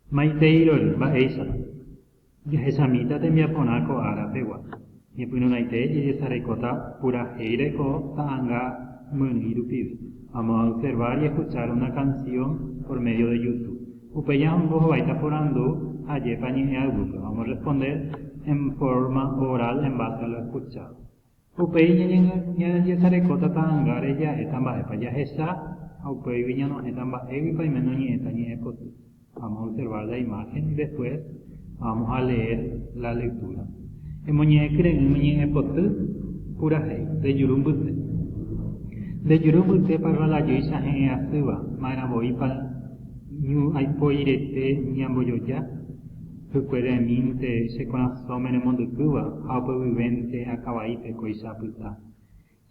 Maiteirory, mba'éichapa. Jahechamíta tembiaporã ko ára pegua. Ñepyrũraite jejesarekóta purahéi reko ta'ãnga myrỹi rupive. Vamos a observar y escuchar una canción por medio de YouTube. Upéi añongo hovaita porandu ajépa ñe'ẽ aygúpe. Vamos responder en forma oral en base a lo escuchado. Upéi ñañandiasarekóta ta'angáre ja'éta mba'épa jahecha ha upéigui ñanohẽta mba'éguipa iména oñe'ẽta ñe'ẽpoty. Vamos a observar la imagen y después vamos a leer la lectura. Emoñe'ẽkyre'ỹme ñe'ẽpoty purahéi, rejuru mbyte. Nde juru mbytépa rralajýicha he'ẽ asýva, ma'erãvoípa ñu aipoirete ñambojoja? Hykuere'ẽmínte che korasõme remondykýva ha ope guivénte akavaípe kóicha apyta.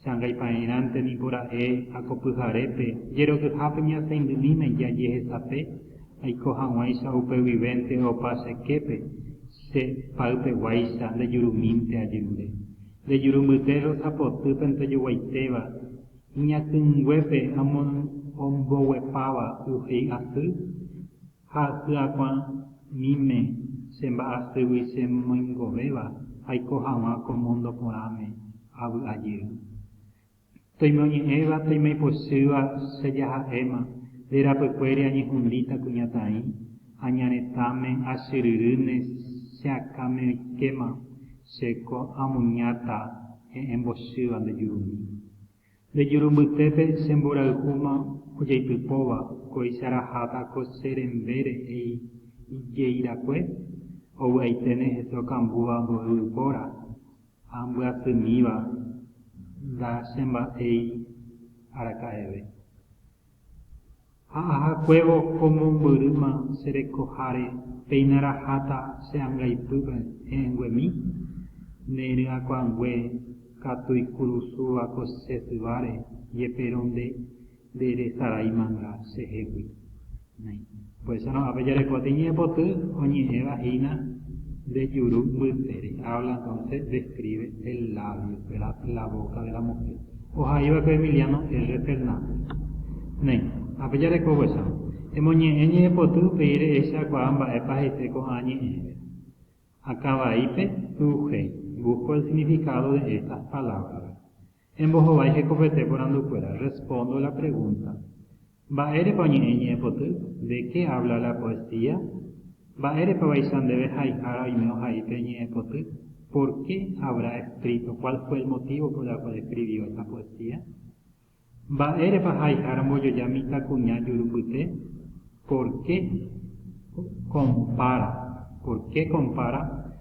Che angaipaerãnte niko ra'e ha ko pyharépe jerokyhápe ñasaindymíme jajehesape aiko hag̃uáicha upe guivénte opa che képe, che pa'ypeguáicha ndejurumínte ajerure. Nde jurumbyte rosapotýpe ndojoguaitéva iñakãinguépe ha omboguepáva y he'i asy. Ha hyakuãmíme che mba'asýgui che moingovéva aiko haguã ko mundo porãme avy'a jey. Toimoñe'ẽva toimeipochýva che jaha'éma, nde rapykuéri añehundíta kuñataĩ, añaretãme achyryrýne che akãme oikéma che ko amuñáta he'ẽmbochýva nde jurumi. Nde jurumbytépe che mborayhúma ojaitypóva kóicha raháta ko che rembére he'i ijeirakue, ovy'aiténe hese okambúva mboy ypóra ha mbyasymíva nda che mba'éi araka'eve. Ha ahakuévo ko mombyrýma che rekoháre péina raháta che angaipýpe he'ẽnguemi, ne ryakuãngue katu ikurusúva ko che syváre, jepe ronde nde resaráimanga chehegui. Por échorõ ápe jarekóta iñe'ẽpoty oñe'ẽva hína nde juru mbytere, habla entonces, describe, el labio, ¿verdad? la boca de la mujer. Ohaiva'ekue Emiliano R. Fernández. Néi, ápe jareko opychárõ. Emoñe'ẽ ñe'ẽpoty upéi rehechakuaa mba'épa hese ko'ã ñe'ẽre. Akã vaípe, tu'uhéi, busco el significado de estas palabras. Embohovái hekopete porandukuéra, respondo la pregunta, Mba'érepa oñe'ẽ ñe'ẽpoty? De qué habla la poesía? Mba'érepavaicha ndéve haihára oime ohai pe ñe'ẽpoty? Por qué habrá escrito, cuál fue el motivo por la cual escribió esta poesía? Mba'érepa haihára mbojoja mitãkuña jurupyte? Por qué compara, por qué compara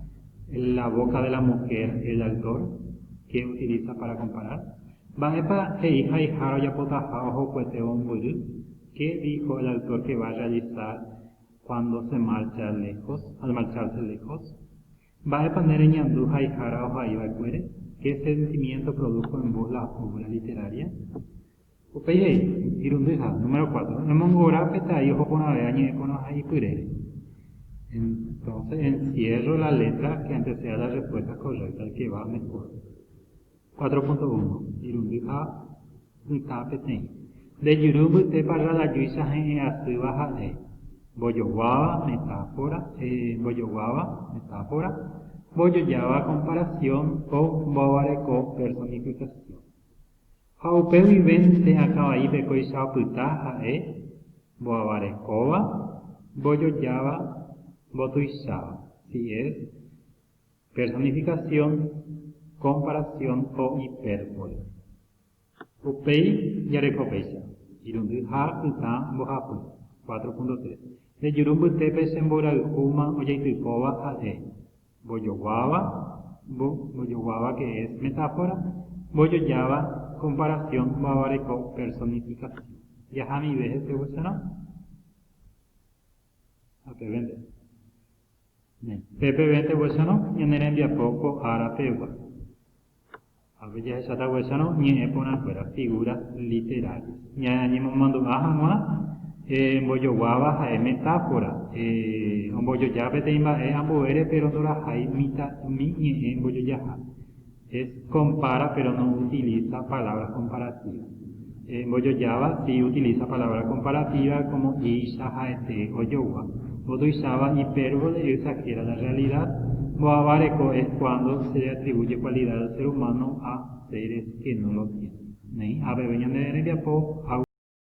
la boca de la mujer el autor? Qué utiliza para comparar? Mba'épa he'i haihára ojapotaha ohokuetévo ombyry? Qué dijo el autor que va a realizar cuando se marcha lejos, al marcharse lejos? Mba'épa nde reñandu haihára oha'iva'ekuére? Qué sentimiento produjo en vos la obra literaria? Upéi he'i, Irundyha, número cuatro, emongora pe tai oho porãve añe'ẽ porã ha ipyrére. Entonces encierro la letra que anteceda las respuestas correctas que va mejor. Cuatro punto uno, Irundy ha pytã peteĩ. Nde juru mbytépa rradajuicha he'ẽ asýva ha'e, mbojoguáva, metáfora, e, mbojoguáva, metáfora, mbojojáva, comparación, o mboavareko, personificación. Ha upe guivénte akã vaípe kóicha opyta ha'e mboavarekóva, mbojojáva, mbotuicháva, si es personificación, comparación o hipérbole. Upéi jareko péicha, irundy ha ytã mbohapy, cuatro punto tres. Rejuru mbytépe che mborayhúma ojaitypóva ha'e, Mbojoguáva, mbo, mbojoguáva que es metáfora, mbojojáva comparación mba'va reko personificación. Jahamive hesegueserõ. Ha pevénte. Pe pevénte gueserõ ñane rembiapo ko ára pegua. Avei jahechakuaáicha ñe'ẽ porãkuéra, figura literaria. Ñañemomandu'a hag̃ua mbojoguáva ha'e metáfora. Ombojoja peteĩ mba'e ambuére péro ndorahai mitã'ỹmi ñe'ẽ mbojojaha. Es compara péro noutiliza palabras comparativas. Mbojojáva, si utiliza palabra comparativa como icha ha'ete ojogua, otuicháva hipérbole e exagera la realidad, mbo'ava reko es cuando se le atribuye cualidad al ser humano a seres que no lo tienen. Neĩ, a peve ñande rembiapo ha.